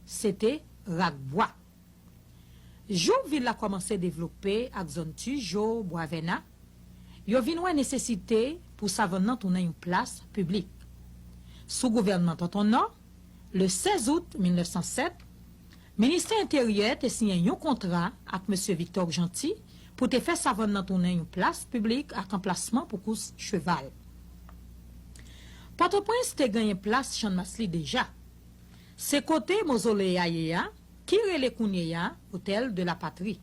Se te rak bwa. Jou vil la kòmanse devlope ak zòn Tujo, Bwavèna, yo vin wè nesesite pou savann nan tounen yon plas piblik. Sou gouvènman Tonton Nò, le 16 out 1907, Ministè Enteryè te siyen yon kontra ak Mesye Viktò Gjanti pou te fè savann nan tounen yon plas piblik ak anplasman pou kous cheval. Pòtoprens te genyen plas Channmas li deja. Se kote mozole a ye a ki rele kounyeya Hôtel de la Patrie.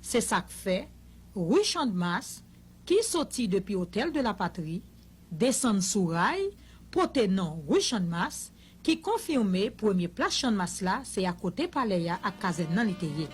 Se sa k fè, ri Chandmas, ki soti depi Hôtel de la Patrie, desann sou ray, pote non ri Chandmas, ki konfime premye plas Chandmas la se akote palè a ak kazèn nan li te ye.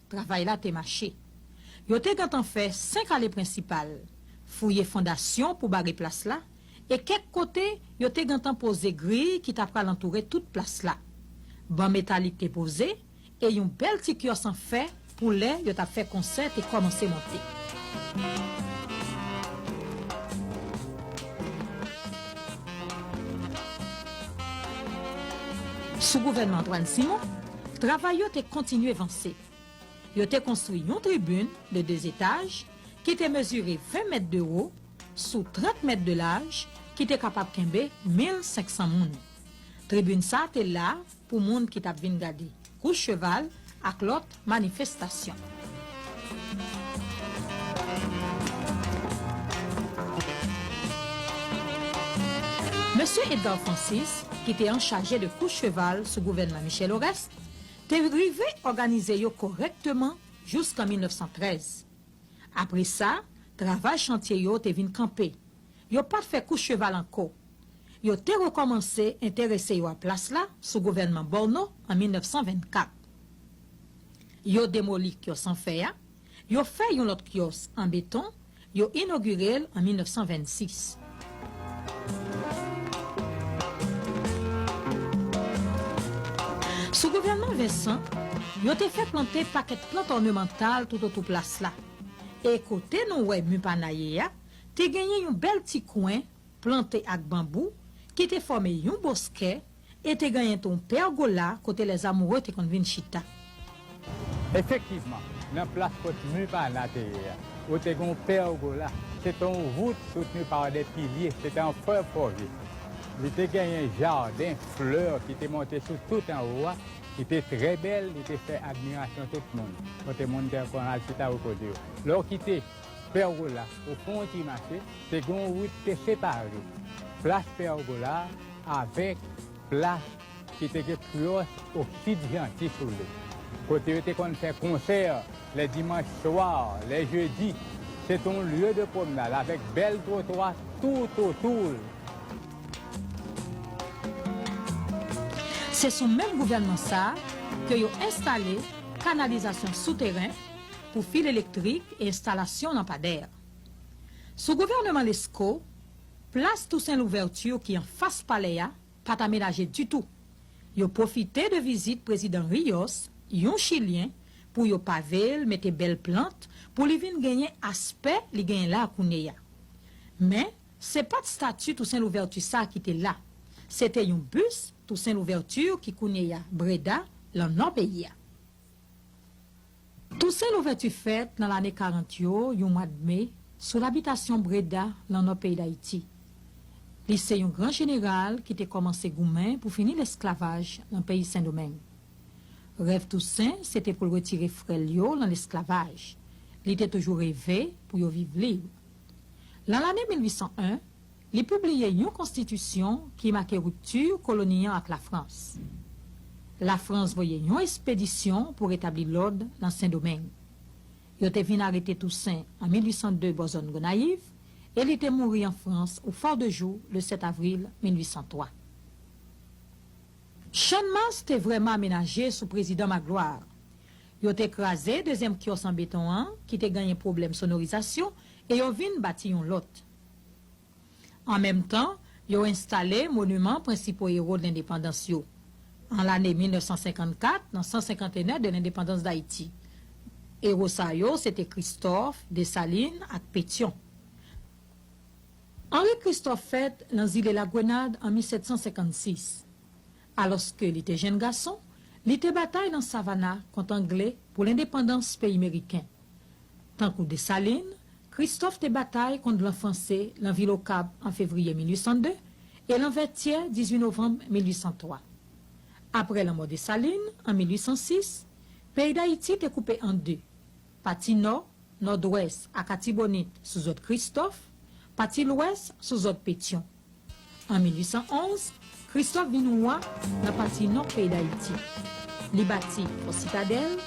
Travay la te mache. Yo te gentan fè senk ale prensipal, fouye fondasyon pou bare plas la, e kèk kote yo te gentan poze griy ki ta pral antoure tout plas la. Ban metalik te poze, e yon bèl ti kyòs an fè pou lè yo t ap fè konsè te kòmanse monte. Sou gouvènman Antwàn Simon, Travay yo te kontinye vanse. Yo te konstwi yon tribin de de etaj ki te mezire 20 mèt de wo sou 30 mèt de laj ki te kapab kenbe 1500 moun. Tribin sa te la pou moun ki t ap vin gade kous cheval ak lòt manifestasyon. Mesye Edgar Francis, ki te anchaje de kous cheval sou gouvènman Michel Oreste, te rive òganize yo kòrèkteman jouskan 1913. Apre sa, travay chantye yo te vin kanpe, yo pa t fè kous cheval ankò. Yo te rekòmanse enterese yo a plas la sou gouvènman Borno an 1924. Yo demoli kyòs an fè a, yo fè yon lòt kyòs an beton, yo inogire l an 1926. Sou gouvènman Vincent, yo te fè plante pakèt plant ònemantal toutotou plas la. E kote nou wè Mupanayé a, Te genyen yon bèl ti kwen plante ak banbou ki te fòme yon boskè e te genyen ton pègola kote les amoureux te konn vin chita. Efektivman, nan plas kot mi Pana te ye a, ou te gen yon pègola. Se te yon vout soutni pa de pilye, se te an fè fòvi. Li te genyen jaden flè ki te monte sou tout anwo a, ki te trè bèl, li te fè admirasyon tout moun, kote moun te konn al chita repoze yo. Lè ou kite. Pèrgola ou fè yon ti mache, te gen yon wout ki te separe plas Pèrgola avèk plas ki te gen Kreyòs Oksid Janti sou li, kote yo te konn fè konsè lè dimanch swa, lè jedi. Se te yon lye de pwomnad avèk bèl twotwa toutotou l. Se sou menm gouvènman sa a ke yo enstale kanalizasyon souteren. pou fil elektrik e enstalasyon lanpadè. Sou gouvèneman Lescot, plas Toussaint Louverture ki anfas palè a pa t amenaje ditou. Yo pwofite de vizit prezidan Ríos, yon chilyen, pou yo pave l, mete bèl plant pou li vin genyen aspè li genyen la kounyeya. Men, se pa t stati Toussaint Louverture sa ki te la. Se te yon bus Toussaint Louverture ki kounyeya Breda, lan nò peyi a. Tousen Louvèti fèt nan lane 40 yo yon mwad me sou labitasyon Breda lan nò peyi Dayiti. Li se yon gran jeneral ki te kòmanse goumen pou fini lesklavaj lan peyi Sendomeng. Rèv Tousen se te pou l retire frè l yo lan lesklavaj. Li te toujou reve pou yo viv lib. Lan lane 1801, Li pibliye yon konstitisyon ki make ripti koloni an ak Lafrans. Lafrans voye yon espedisyon pou retabli lòd nan Sendomeng. Yo te vin arete Tousen an 1802 bò zòn Gonayiv e li te mouri an Frans ou Fòdejou le 7 avril 1803. Channmas te vrèman amenaje sou prezidan Magloire. Yo te kraze dezyèm kyòs an beton an ki te ganyen pwoblèm sonorizasyon e yo vin bati yon lòt. An menm tan, yo enstale moniman prensipo ewo dlendepandans yo. An lane 1954, nan 150 ene de lendepandans Dayiti. Ewo sa yo se te Kristòf, Desalin ak Petyon. Anri Kristòf fèt nan zile Lagwenad an 1756. Alòske li te jenn gason, li te batay nan Savana kont Angle pou lendepandans peyi meriken. Tankou Desalin, Kristòf te batay kont blan franse lan vil Okap an fevriye 1802 e lan Vètyè 18 novanm 1803. Apre lanmò Desalin, an 1806, peyi Dayiti te koupe an de, pati nò, nòdwès, ak Atibonit, sou zòd Kristòf, pati lwès, sou zòd Petyon. An 1811, Kristòf vin wa nan pati nò peyi Dayiti. Li bati Fò Sitadèl,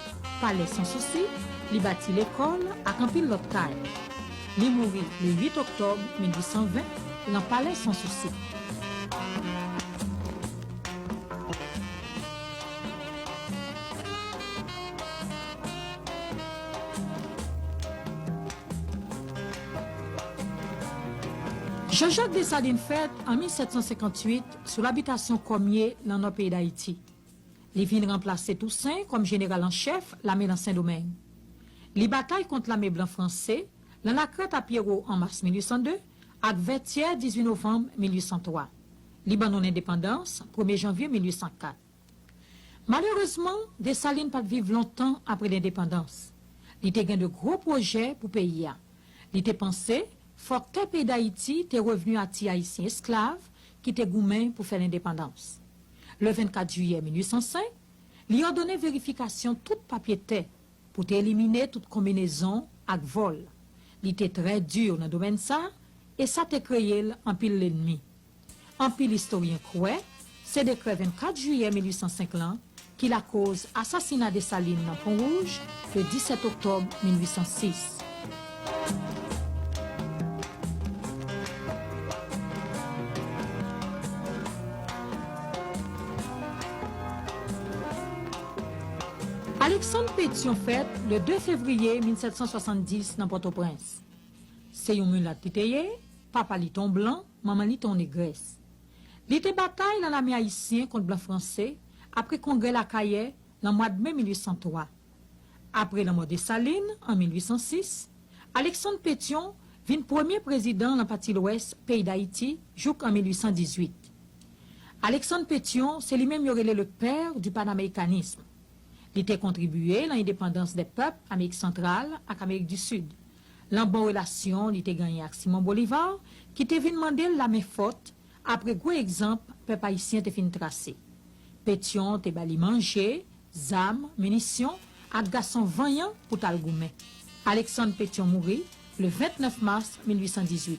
Palè San Sousi, li bati lekòl ak anpil lòt kay. Li mouri le 8 oktòb 1820 lan Palè San Sousi. Jean Jacques Dessalines fèt an 1758 sou labitasyon Kòmye nan nò peyi Dayiti. Li vin ranplase Tousen kòm jeneral an chèf lame nan Sendomeng. Li batay kont lame blan franse nan Lakrèt a Pyero an mas 1802 ak Vètyè 18 novanm 1803. Li ban nou lendepandans premye janvye 1804. Malerezman, Desalin pa t viv lontan apre lendepandans. Li te gen de gwo pwojè pou peyi a. Li te panse fòk tè peyi Dayiti te revni a ti Ayisyen esklav ki te goumen pou fè lendepandans. Le 24 jiyè 1805, li òdone verifikasyon tout papye tè pou te elimine tout konbinezon ak vòl. Li te trè di nan domèn sa e sa te kreye l anpil lennmi. Anpil istoryen kwè se dekrè 24 jiyè 1805 lan ki lakoz asasina Desalin nan Pon Wouj le 17 oktòb 1806. Aleksann Petyon fèt le 2 fevriye 1770 nan Pòtoprens. Se yon milat li te ye, papa li te yon blan. Manman li te yon negrès. Li te batay lan lame ayisyen kont blan franse apre kongrè Lakayè lan mwad me 1803. Apre lanmò Desalin an 1806, Aleksann Petyon vin premye prezidan lan pati lwès peyi Dayiti jouk an 1818. Aleksann Petyon se li menm yo rele le père du panamericanisme. Li te kontribiye lan endepandans 2 pèp Amerik Santral ak Amerik di Sid. Lan bon relasyon li te ganyen ak Simon Bolivar ki te vin mande l la men fòt apre gwo egzanp pèp ayisyen te fin trase. Petyon te ba li manje, zam, minisyon ak gason vanyan pou t al goumen. Aleksann Petyon mouri le 29 mas 1818.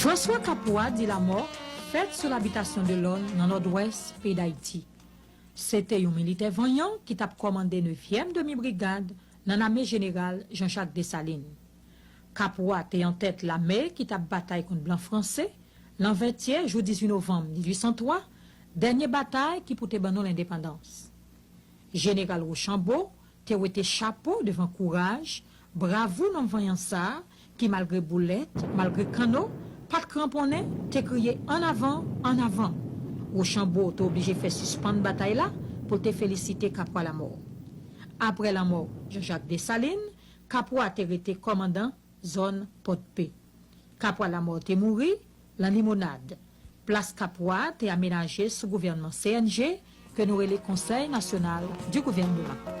François Capois dit la mort fèt sou labitasyon Delorme nan Nòdwès peyi Dayiti. Se te yon militè vanyan ki t ap kòmande nevyèm demi brigad nan lame jeneral Jean Jacques Dessalines. Capois te antèt lame ki t ap batay kont blan franse lan Vètyè jou 18 novanm 1803 Dènye batay ki pou te ban nou lendepandans. Jeneral Rochambo te wete chapo devan kouraj, bravou nonm vanyan sa a ki malgre boulèt, malgre kanno, pa t kranponnen, te kriye An avan! An avan! Rochambo te oblije fè sispann batay la pou l te felisite Kapwa Lamò. Apre lanmò Janjak Desalin, Kapwa te rete kòmandan zòn Pòdpe. Kapwa Lamò te mouri lan limonad. Plas Kapwa te amenaje sou gouvènman CNG ke nou rele Conseil National du Gouvernement.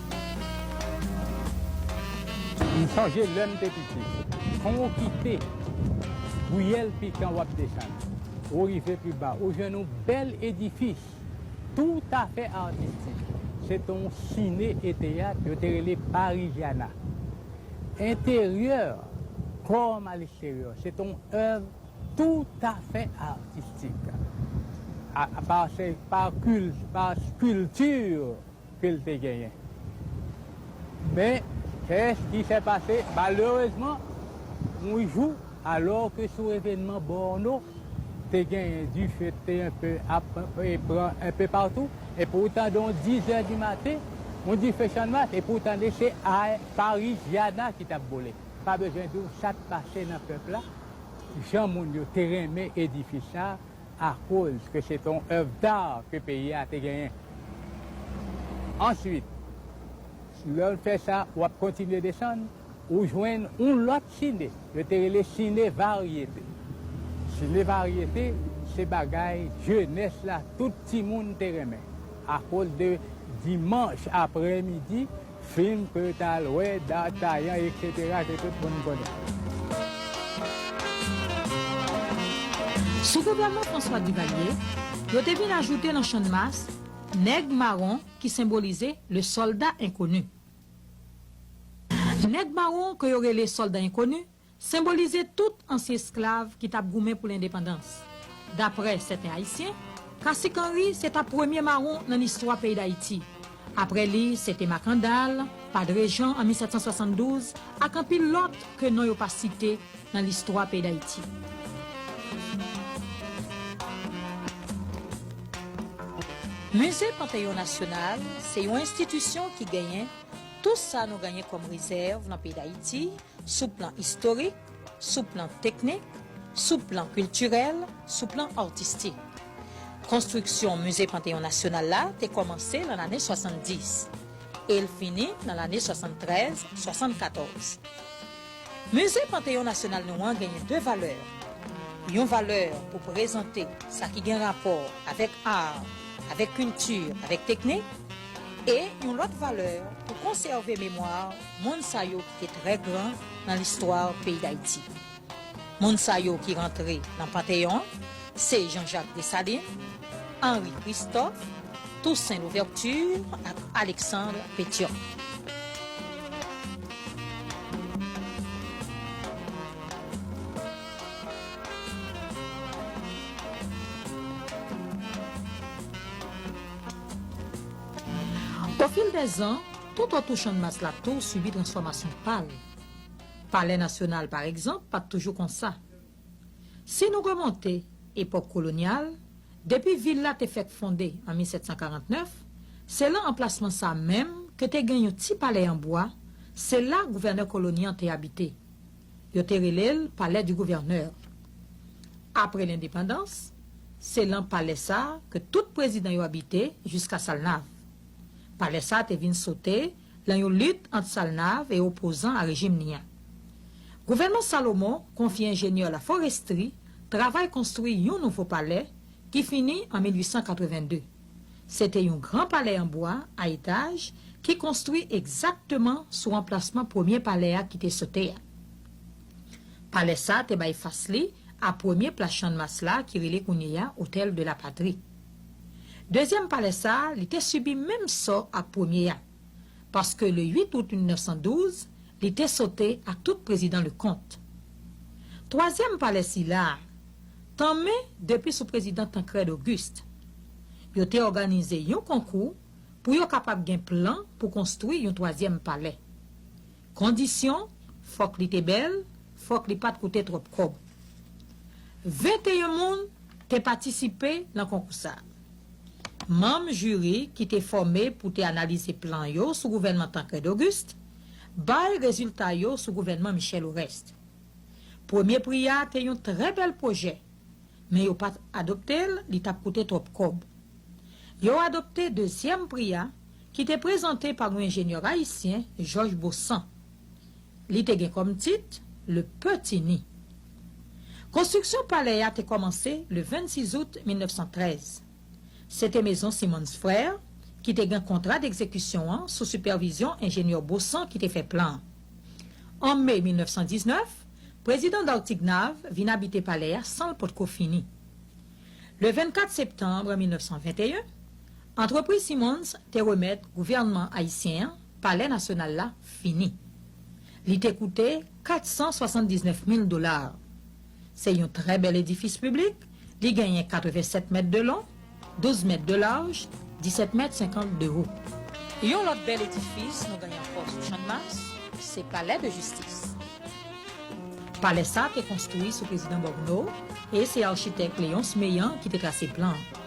M sonje lè m te piti. Kon ou kite riyèl pikan wap desann, ou rive pi ba ou jwenn yon bèl edifis toutafè atistik. Se te yon sine e teyat yo te rele Parigiana. Enteryè kòm a leksteryè se te yon èv toutafè atistik. Par skulpti. ke l te genyen. Men, kès ki fè pase, malerezman, yon jou, alò ke sou evenman Borno, te genyen dife k te enpe ap pran enpe patou, epi w tande yon dizè di maten, yon dife channmas, epi w tande se Pariziana ki t ap boule. Pa bezwen di w sa t pase nan pèp la, jan moun yo te renmen edifis sa a, akoz ke se te yon oeuvre d'art ke peyi a te genyen. Answit, lè w fè sa, w ap kontinye desann, ou jwenn yon lòt sine, yo te rele sine varyete. Sine varyete, se bagay jenès la, tout timoun te renmen, akoz de dimanch aprè midi, Fim ke yo ta al wè, D'Artagnan etc ke tout moun konnen. Sou gouvènman François Duvalier, yo te vin ajoute nan Channmas, Nèg Mawon ki senbolize Le Soldat Inconnu. Nèg Mawon ke yo rele Soldat Inconnu Senbolize tout ansyen esklav ki t ap goumen pou lendepandans. Daprè sèten Ayisyen, Kasik Anri se ta premye mawon nan listwa peyi Dayiti. Aprè li, se te Makandal, Padre Jan an 1772 ak anpil lòt ke non yo pa site nan listwa peyi Dayiti. Mize Panteyon Nasyonal se yon enstitisyon ki genyen tout sa nou genyen kòm rezèv nan peyi Dayiti, sou plan istorik, sou plan teknik, sou plan kiltirèl, sou plan artistik. Konstriksyon Mize Panteyon Nasyonal la te kòmanse lan lane 70, e l fini lan lane 73, 74. Mize Panteyon Nasyonal nou an genyen 2 valè, yon valè pou prezante sa ki gen rapò avèk ar, avèk kilti, avèk teknik, e yon lòt valè pou konsève memwa, Moun sa yo ki te trè gran nan listwa peyi Dayiti. Moun sa yo ki rantre nan Panteyon an, se Janjak Desalin, Anri Kristòf, Tousen Louvèti ak Aleksandr Petyòn. Okil de zan. Tout otou Channmas la tou sibi transfòmasyon pa l. Palè Nasyonal, pa egzanp, pa t toujou konsa. Si nou remonte epòk kolonyal, depi vil la te fèk fonde an 1749, se lan anplasman sa menm ke te gen yon ti palè an bwa, se la gouvènè koloni an te abite. Yo te rele l Palais du Gouverneur. Apre lendepandans, se lan palè sa ke tout prezidan yo abite jiska Salnav. Palè sa te vin sote lan yon lit ant Salnav e opozan a rejim ni an. Gouvènman Salomon konfye enjenyè La Forestrie travay konstwi yon nouvo palè ki fini an 1882. Se te yon gran palè an bwa a etaj ki konstwi egzakteman sou anplasman premye palè a ki te sote a. Palè sa te bay fas li a premye plas Channmas la ki rele kounyeya Hôtel de la Patrie. Dezyèm palè sa a, li te sibi menm sò ak premye a. Paske le 8 out 1912, li te sote ak tout Prezidan Leconte. Twazyèm palè sila a, tanmen depi sou Prezidan Tancrède Auguste. Yo te òganize yon konkou pou yo kapab gen plan pou konstwi yon twazyèm palè. Kondisyon, Fòk li te bèl, fòk li pa t koute twòp kòb. 21 moun te patisipe nan konkou sa. Manm jiri ki te fòme pou te analize plan yo sou gouvènman Tancrède Auguste bay rezilta yo sou gouvènman Michel Oreste. Premye pri a te yon trè bèl pwojè men yo pat adopte l li tap koute twòp kòb. Yo adopte dezyèm pri a ki te prezante pa yon enjenyè ayisyen Jòj Bosan. Li te gen kòm tit Le Petit Ni. Konstriksyon palè a te kòmanse le 26 out 1913. Se te mezon Simmons Frères ki te gen kontra dekzekisyon an sou sipèvizyon enjenyè Bosan ki te fè plan an. An me 1919, Prezidan Dartiguenave vin abite palè a san l potko fini. Le 24 septanbre 1921, antrepriz Simmons te remèt gouvènman ayisyen an palè nasyonal la fini. Li te koute 479 mil dola. Se yon trè bèl edifis piblik, li genyen 87 mèt de long, 12 mèt de laj, 17 mèt 50 de wo. Yon lòt bèl edifis nou genyen ankò sou Channmas, se Palè de Jistis. Palè sa te konstwi sou Prezidan Bòkno e se architèk Léonce Meillant ki te trase plan an.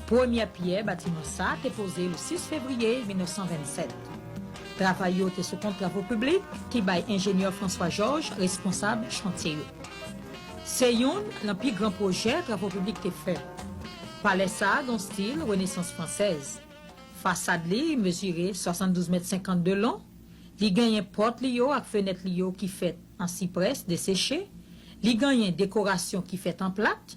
Premyè pyè batiman sa te poze le 6 fevriye 1927. Travay yo te sou kont Travo Piblik ki bay enjenyè François Georges responsab chantye yo. Se youn nan pi gran pwojè Travo Piblik te fè. Palè sa a gen yon stil renesans fransèz. Fasad li mezire 72 mèt 50 de lon, li genyen pòt li yo ak fenèt li yo ki fèt an siprès deseche, li genyen dekorasyon ki fèt an plat,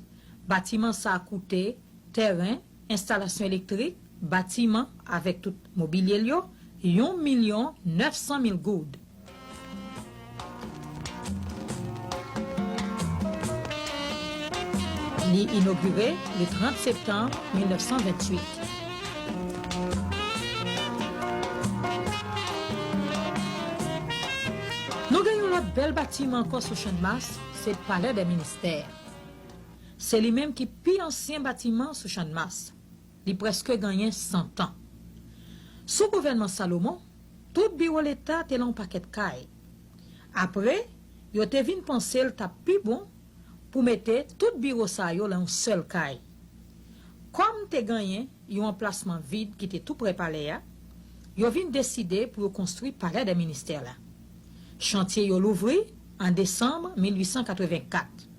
batiman sa a koute, tèren, enstalasyon elektrik, batiman avèk tout mobilye l yo, yon milyon 900 mil goud. Li inogire le 30 septanm 1928. Nou gen yon lòt bèl batiman ankò sou Channmas, se Palè dè Ministè. Se li menm ki pi ansyen batiman sou Channmas. Li prèske ganyen san tan. Sou gouvènman Salomon, tout biwo leta te lan yon pakèt kay. Apre, yo te vin panse l t ap pi bon pou mete tout biwo sa yo lan yon sèl kay. Kòm te ganyen yon anplasman vid ki te toupre palè a, yo vin deside pou yo konstwi Palè dè Ministè la. Chantye yo louvri an desanm 1884.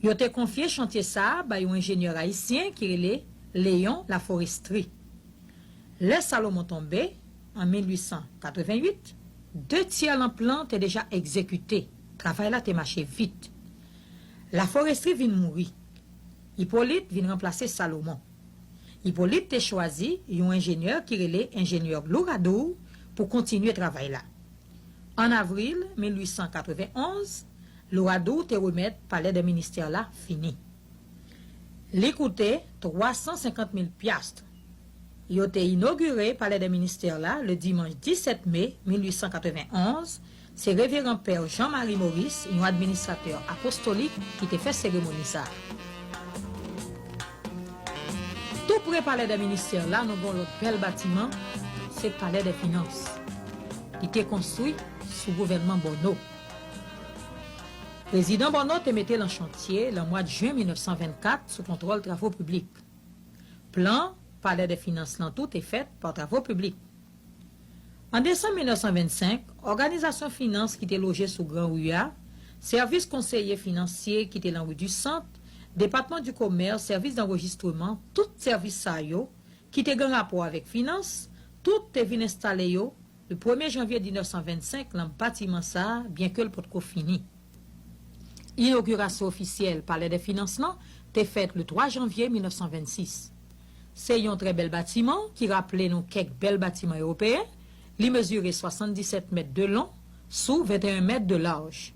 Yo te konfye chantye sa a bay yon enjenyè ayisyen ki rele Léon Laforestrie. Lè Salomon tonbe, an 1888, de tyè lan plan te deja egzekite, travay la te mache vit. Laforestrie vin mouri. Hyppolite vin ranplase Salomon. Hyppolite te chwazi yon enjenyè ki rele enjenyè Louradour pou kontinye travay la. An avril 1891, Louradou te remèt Palè dè Ministè la fini. Li koute 350 mil pyastr. Yo te inogire Palè dè Ministè la le dimanch 17 me 1891, se Reveran Pè Jean Marie Maurice, yon administratè apostolik, ki te fè seremoni sa a. Tou pre Palè dè Ministè la nou gen yon lòt bèl batiman, se Palè dè Finans. Li te konstwi sou gouvènman Bonneau. Prezidan Bonneau te mete l an chantye lan mwa d jen 1924 sou kontwòl Travo Piblik. Plan Palè dè Finans lan tou te fèt pa Travo Piblik. An desanm 1925, òganizasyon finans ki te loje sou Gran Ri a, Sèvis Konseye Finansye ki te lan Ri di Sant, Depatman di Komès, Sèvis Danrejistreman, tout sèvis sa yo, ki te gan rapò avèk finans, tout te vin enstale yo Le premye janvye 1925 lan batiman sa a, byenke l potko fini. Inogirasyon ofisyèl Palè dè Finans lan te fèt le 3 janvye 1926. Se yon trè bèl batiman ki raple nou kèk bèl batiman ewopeyen, li mezire 77 mèt de long sou 21 mèt de laj.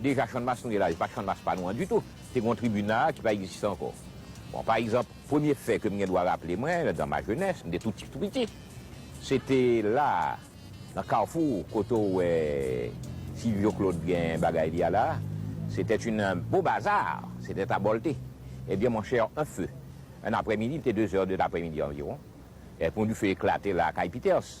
Deja Channmas nou ye la se pa Channmas pa nou an ditou, te gen yon tribi nan a ki pa egziste ankò. Bon pa egzanp, premye fè ke m gen dwa raple mwen dan ma jenès, m te tou ti tou piti, se te la a nan Kafou kote w wè Silvyo Klod gen bagay li a la a, se tèt yn beau bazar, se tèt a bòlte. Ebyen mon cher un feu, un aprèmidi, li te dezè de laprèmidi anviwon, epon dife eklate la a kay Peters,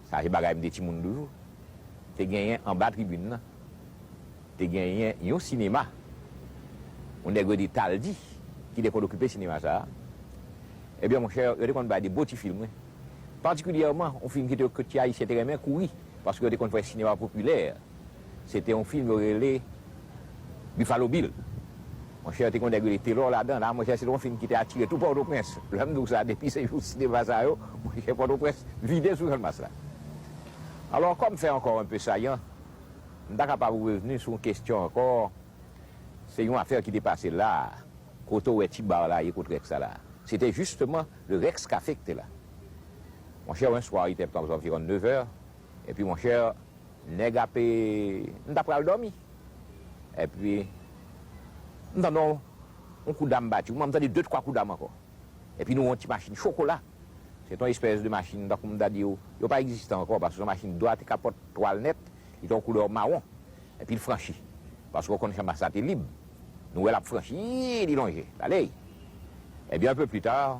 Sa se bagay m te timoun toujou. Te genyen anba tribin nan, te genyen yon sinema, yon nèg rele Taldi ki te konn okipe sinema sa a. Ebyen monchè, yo te konn bay de bon ti fim wi. Patikilyèman yon fim ki te ti Ayisyen te renmen, Kouri, paske yo te konn fè sinema popilè Se te yon fim yo rele Buffalo Bill. Monchè te gon nèg rele Telor ladan la. Monchè se te yon fim ki te atire tout Pòtoprens. Lè m di w sa depi se jou sinema sa yo, monchè Pòtoprens vide sou Channmas la. Alò kòm fè ankò enpe sayan, m ta kapab ou revni sou yon kesyon ankò, se yon afè ki te pase la a. Kote w wè ti bar la ye kot Rex la la a? Se te jisteman le Rex Café ki te la. Monchè, un soir, il était aux environs de 9 heures, epi monchè, Nèg ape m ta pral dòmi epi m tande yon kou dam bati ou m tande de twa kou dam ankò epi nou wè yon ti machin chokola se te yon espès de machin tankou m ta di ou yo pa egziste ankò paske se yon machin dwat kapòt twal nèt li te yon koulè mawon epi l franchi paske ou konn chanmas la te lib nou wè l ap franchi li lonje l ale ebyen anpe pli ta.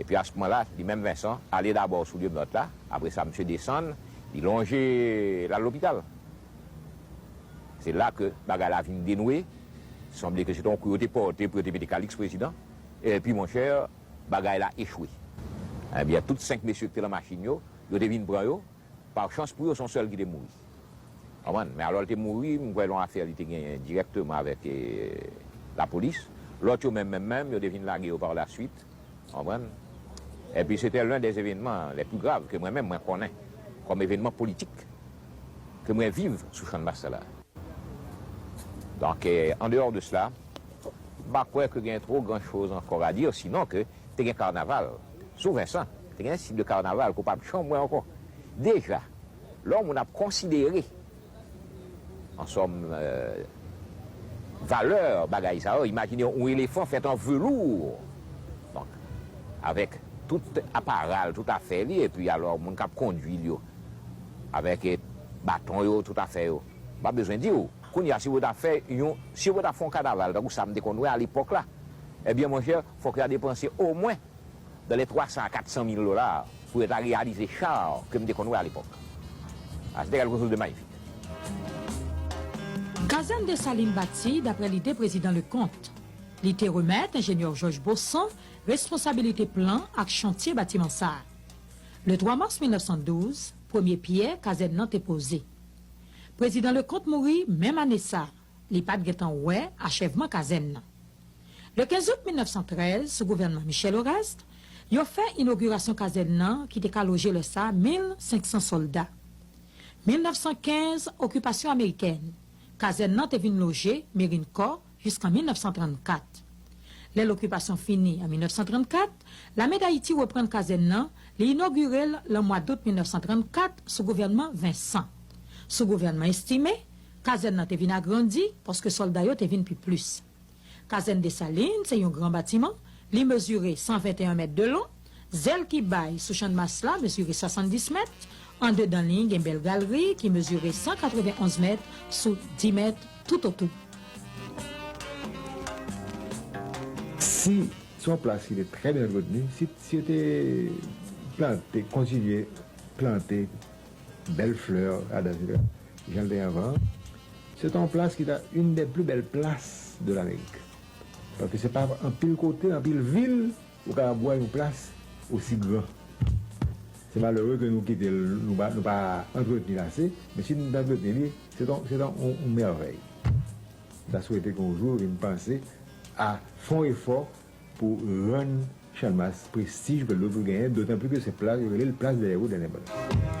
Epi asmoman la, li menm Vensan ale dabò sou lyonòt la, apre sa misye desann, li lonje, l al lopital. Se la ke bagay la vin denwe, sanble ke se te yon kou yo te pòte pou yo te mete Kalix prezidan, epi monchè, bagay la echwe. Ebyen, tout senk mesye ki te lan machin yo, yo te vin pran yo, Par chans pou yo son sèl ki te mouri. Konprann? Men alòl te mouri, m kwè l on afè li te genyen dirèkteman avèk lapolis. Lòt yo menm menm menm, yo te vin lage yo par la swit. Konprann? Enpi se te len dè evenman lè pi grav ke mwen menm mwen konnen kòm evenman politik ke mwen viv sou channmas sa la. Donk an deyò de sela, m pa kwè ke gen two gran choz ankò a dire sinon ke te gen karnaval sou Vensan, te gen tit de karnaval ke w pap janm wè ankò. Deja, lò moun ap konsidere an sòm valè bagay sa yo, imajine yon elefan fèt an velour, donk avèk tout apara l, tout afè li, epi alò moun k ap kondui l yo avèk baton yo, tout afè yo, m pa bezwen di w. Kounye a, si yo ta fè yon, si yo ta fè yon kanaval tankou sa m te konn wè alepòk la, ebyen monchè, fòk yo ta depanse omwen dan lè 300 a 400 mil dola pou yo ta reyalize char ke m te konn wè a lepòk. A sete kelke chose de magnifique. Kazèn Desalin bati dapre lide Prezidan Leconte. Li te remèt Enjenyè Jòj Bosan responsabilite plan ak chantye batiman sa a. Le 3 mas 1912, premye pyè kazèn nan te poze. Prezidan Leconte mouri menm ane sa a. Li pa t gen tan wè achèvman kazèn nan. Le 15 out 1913, sou gouvènman Michel Horaste, yo fè inogirasyon kazèn nan ki te ka loje lè sa 1,500 sòlda. 1915, okipasyon amerikèn, kazèn nan te vin loje Merin Kò jiskan 1934. Lè lokipasyon fini an 1934, Lame Dayiti reprann kazèn nan, li inogire l lan mwa dout 1934 sou gouvènman Vincent. Sou gouvènman Estimé, Kazèn nan te vin agrandi paske sòlda yo te vin pi plis. Kazèn Desalin se yon gran batiman, li mezire 121 mèt de lon, zèl ki bay sou Channmas la mezire 70 mèt, andedan li gen bèl galri ki mezire 191 mèt sou 10 mèt toutotou. Si se yon plas ki te trè byen antreteni, si yo te plante, kontinye plante Bèl flè Adams Villeneuve jan l te anvan an. Se ta yon plas ki ta youn dè pli bèl plas de Lamerik. Paske se pa anpil kote, anpil vil ou ka bwè yon plas osi gran. Se malere ke nou kite l, nou pa nou pa antreteni l ase, men si nou ta antreteni li, se ta se ta yon mèvèy. M ta swete ke yon jou yo vin panse a fè yon efò pou rann Chalmas prestij ke l dwe pou l genyen, dotan pli ke se pla, yo rele l plas dèyè wout lendepandans.